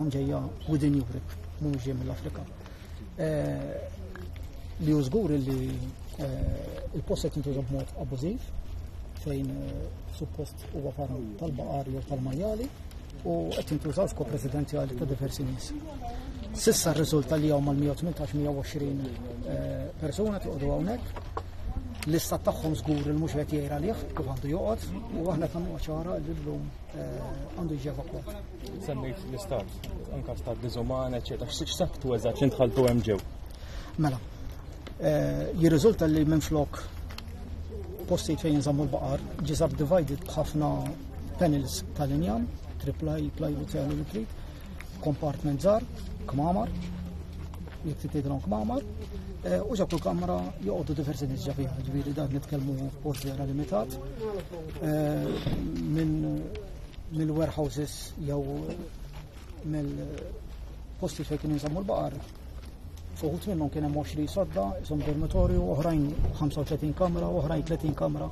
ġejja within Europe, mhux ġej mill-Afrika. Eh, li użgur li eh, il-post qed jintuża b'mod abbużiv fejn eh, suppost huwa farm tal-baqar jew tal-majjali u qed jintużaw f'kop residenzjali ta' diversi nies. Sissa r-riżulta li hawn mal-118-120 persuna tiqogħdu hawnhekk l-istat tagħhom żgur il mhux qed jgħid għalih kif għandu joqgħod u aħna tagħmlu ċara li llum għandu jiġi evakwat. Semmejt l-istat, anka stat diżuman, eċetera. X'saktu eżatt li ntħaltu hemm ġew? Mela, eh, jirriżulta li minn flok postijiet fejn jinżammu l-baqar, ġi subdivided b'ħafna panels tal-injam, triplaj, plywood, sejl u trid, kompartment żgħar, kmamar, jekk trid tgħidilhom kmamar, eh, u ġab kamra joqogħdu diversi nies ġafiha, ġifieri dan nitkellmu post vera limitat eh, minn mill-warehouses jew mill-posti fejn kien jinżammu l-baqar. Fuħut minnhom kien hemm 20 sodda, isom dormitorju, oħrajn 35 kamra, oħrajn 30 kamra,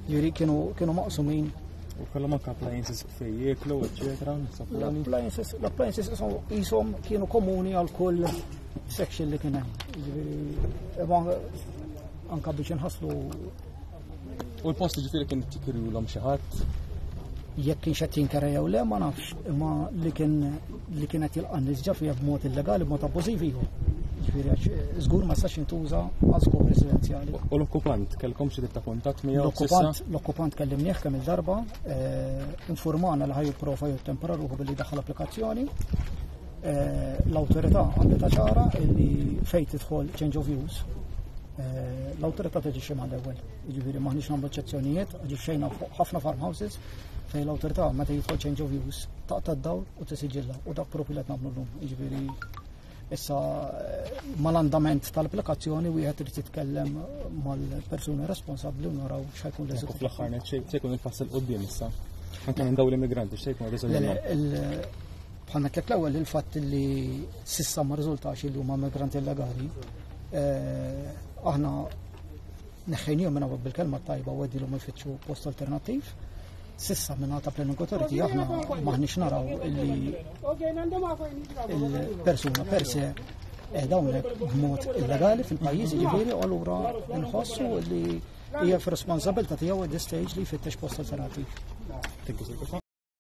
ġiri kienu kienu maqsumin. U kellhom anke appliances fej jieklu, eċetera, L-appliances l-appliances isom ishom kienu komuni għal kull section li kien hemm. Jiġifieri, imma anka biex inħasslu U l-post ġifiri kien tikirju l-om xaħat? Jekk kien xed jinkera jew le, ma nafx, imma li kien li kien qed jilqan nisġa fija b'mod illegali, b'mod abbużiv iva. Ġifiri, zgur eh, ma sax intuża għal skop residenzjali. U l-okkupant, kellkom xi ta' kontat miegħu? L-okkupant, l-okkupant kellim kemm il-darba, eh, informana li ħajju profa jew tempera ruħu billi daħħal applikazzjoni. Eh, l-autorità għandha ċara li fejn tidħol change of use Eh, l-autorità teġi xi mal ewwel. Jiġifieri maħniex nagħmlu eċċezzjonijiet, ġi xejna fuq ħafna farmhouses fejn l-autorità meta jidħol change of use taqta' d-dawl u tisiġilla u dak propju li qed nagħmlu llum. Jiġifieri issa eh, mal-andament tal-applikazzjoni wieħed irid jitkellem mal-persuni responsabbli u naraw x'ħajkun l eżitu Fl-aħħar net se jkun il-pass il qudiem issa. Anke minn dawn l-immigranti x'se jkun riżultat. Bħalna tlek l-ewwel il-fatt li sissa ma riżultax li huma migranti illegali Eh, aħna neħħejnijom minna bil-kelma tajba u għedilom ifittxu post alternativ. Sissa minna ta' planning authority aħna maħnix naraw illi il-persuna per se eh, dawnek b'mod illegali fil-pajjiż ġifieri u allura nħossu li hija f'responsabilità tiegħu at this stage li jfittex post alternativ.